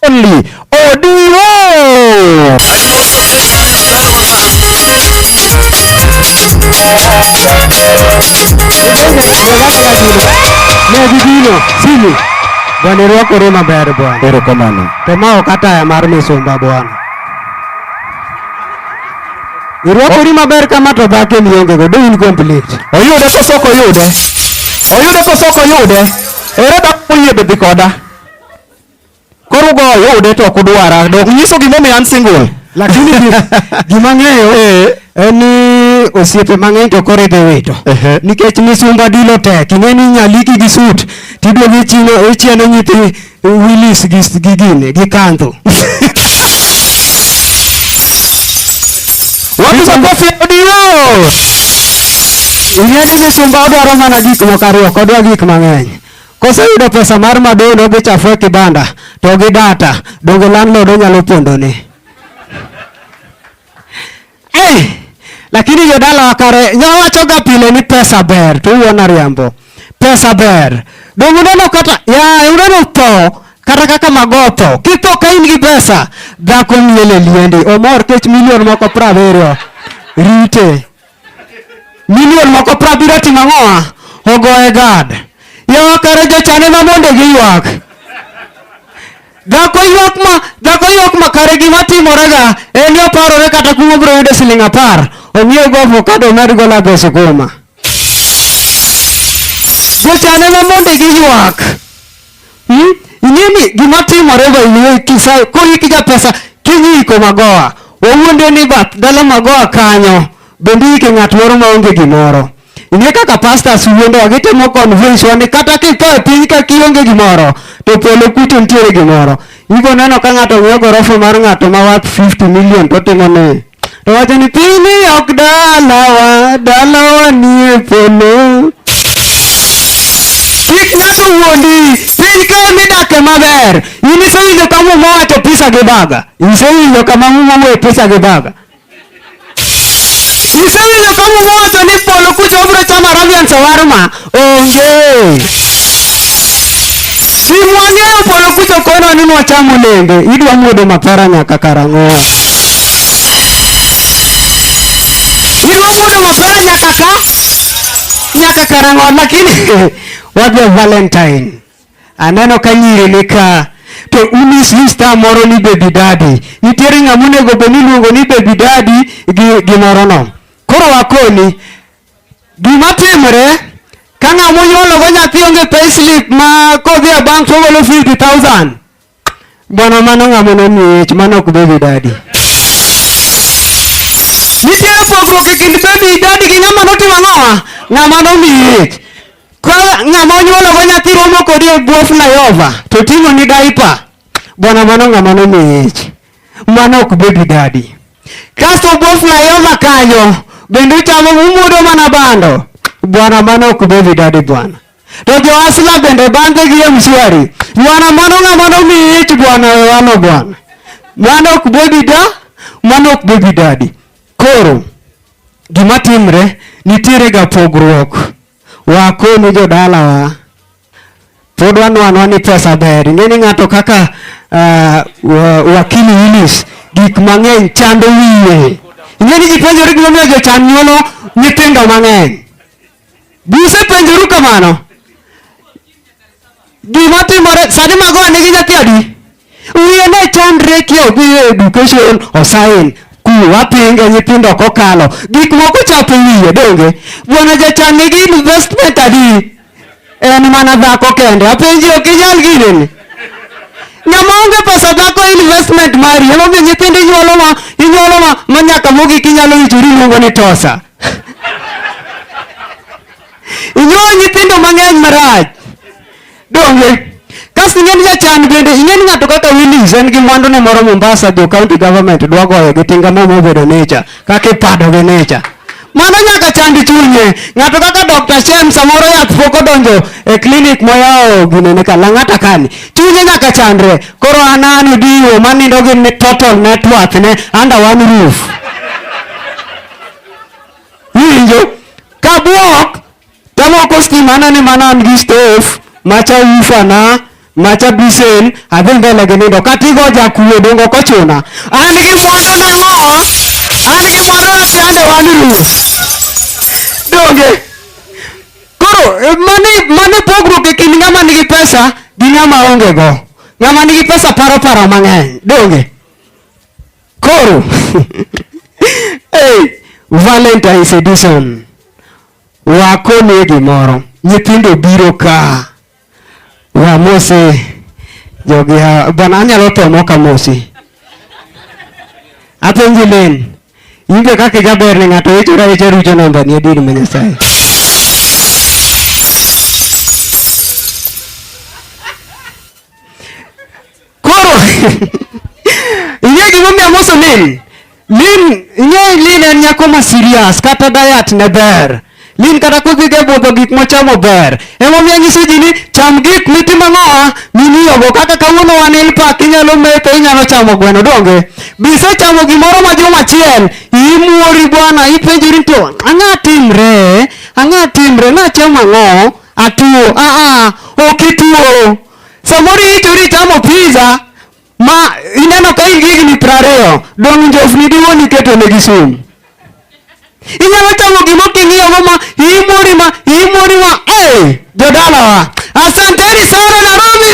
only Odiro. Negibino sini bwana irwakore maber bwana. Erokamano. To ma ok ataya mar misumba bwana. Irwakori maber kama to dhako ni onge go, do in complete. Oyude koso ok oyude? Oyude koso ok oyude? Ere dhako moyie be dhi koda? Koro go yude to ok udwara. Dok nyiso gimomiyo an single. Lakini gima ng'eyo eh. en ni osiepe mang'eny to koro idhi wito nikech misumba dilo tek ing'e ni nyaliki gi sut tiduogo ichieno nyithi wilis gi gine gi kandho wapiga kofi audio ing'e ni misumba odwaro mana gik moko ariyo kodwa gik mang'eny Koseyudo pesa mar madono gi chafu e kibanda to gi data, donge landlord onyalo pondoni? Eh, lakini jodala wakare nyawachoga pile ni pesa ber to uona riambo. Pesa ber. Donge uneno kata ya uneno tho kata kaka magotho. Kitho ka in gi pesa dhako miele liendi omor kech milion moko prabiriyo rite. Milion moko prabiro timo ang'owa? Ogoye gad. Yawa kare jochane ma mondo giywak. Dhako ywak ma dhako ywak ma kare gima timorega en ni oparore kata kuma obiro yudo siling apar ong'iew go avocado omed go lago sukuma. Jochane ma mondo giywak. Hmm? Ing'e ni gima timore by kisayo koriki ja pesa kinyiko magoa. Wawuonde ni bath dala magoa kanyo bende yike ng'at moro maonge gimoro. Ing'e kaka pastors wuondowa gitemo convince wa ni kata kitho e piny ka kionge gimoro to polo kucho nitiere gimoro. Ibo neno ka ng'ato ng'iewo gorofa mar ng'ato ma worth 50 million to timo ni To wacho ni piny ok dalawa, dalawa nie polo. Kik ng'ato wuondi, piny ka midake maber. In isewinjo ka muma wacho pisa gi baga? Isewinjo kama muma wuoye pisa gi baga? Isewinjo ka muma wacho ni polo kucho obiro chamo Arabian shawarma? Onge. Simwang'eyo polo kucho kono ni nwacham olembe, idwa muodo mapera nyaka karang'o? Idwa muodo mapera nyaka ka nyaka karang'o? Lakini wadwa Valentine. Aneno ka nyiri ni ka to unis ni star moro ni baby daddy. Nitiere ng'ama onego bed ni iluongo ni baby daddy gi gimoro no. Koro wakoni Gima timore ka ng'ama monyuologo nyathi onge payslip ma kodhi a bank togolo 50,000 bwana mano ng'ama nomiye ich mano ok baby daddy. Nitiere pogruok e kind baby daddy gi ng'ama notimo ang'owa ng'ama nomiye ich. Ka ng'ama onyuologo nyathi romo kodi e bwo flyover to ting'oni diaper bwana mano ng'ama nomiye ich. mano ok baby daddy. Kasto bwo flyover kanyo bende uchamo umudo mana bando bwana, mano ok baby daddy bwana. To jo asla bende bange gi mshwari bwana, mano ng'ama nomiyi ich bwana, wewano bwana, mano ok baby da, mano ok baby daddy. Koro gima timre nitiere ga pogruok wakoni jodalawa Pod wanwanwa ni pesa ber. Ing'e ni ng'ato kaka uh, wakili Willis gik mang'eny chando wiye. Ing'e ni gipenjore gimomiyo jochan nyuolo nyithindo mang'eny. Buse penjoru kamano. Gima timore sani mago nigi nyathi adi? wiye ne chandre ki odhiyo e education osain ku wapinge nyithindo kokalo gik moko chapo wiye donge bwana jachan nigi investment adi en mana dhako kende apenji ok inyal gineni ng'ama onge pesa dhako investment mari emomiyo nyithindo inyuolo ma inyuolo ma ma nyaka mogik inyalo wichori iluongo ni tosa inyuolo nyithindo mang'eny marach Donge. Kasto ing'e ni jachan bende, ing'e ni ng'ato kaka Willis en gi mwandune moro Mombasa, jo county government dwa goyo gi tinga mo mobedo nature, kaka ipado gi nature. Mano nyaka chand chunye. Ng'ato kaka Dr. Shem samoro yath pok odonjo e clinic moyawo ginene ka Lang'ata kani. Chunye nyaka chandre. Koro an an odiwo manindo gi ne- total net worth ne under one roof. Winjo? Kabuok Kama uko scheme ana ni mana an gi stove, macha ufa na macha bisen adhi mbele gi nindo katigo jakuo dongo kochuna an gi mwandu na ng'o an gi mwandu na siande wan ruo donge koro eh, mani mani pogruok e kind ng'ama nigi pesa gi ng'ama onge go ng'ama nigi pesa paro paro mang'eny donge koro hey, valentines edition Wakonie gimoro. Nyithindo biro ka. Wamose jogi hawa. Bwana anyalo tho mok amosi. Apenji Len, in be kaka ijaber ne ng'ato ichora ahicha rucho nambani adier ma Nyasaye. Koro ing'e gimomiyo amoso Lin? Lin ing'e Lin en nyako ma serious kata diet ne ber. Lin kata kodhi ga budho gik mochamo ber. Emomiyo anyiso ji ni cham gik mitimo ng'owa mimiyogo kaka kawuono wan ilpak inyalo metho inyalo chamo gweno donge. Bisechamo gimoro ma juma achiel imuori bwana ipenjori to ang'a timre ang'a timre nachamo ang'o atuo aa ok ituo Samoro iti uri chamo pizza ma ineno ka in gi higni piero ariyo dong' njofni diwuon iketo ne gi sum. Inyalo chamo gima king'iyo go ma imori ma imori ma eh jodalawa. Asanteni sana Nairobi.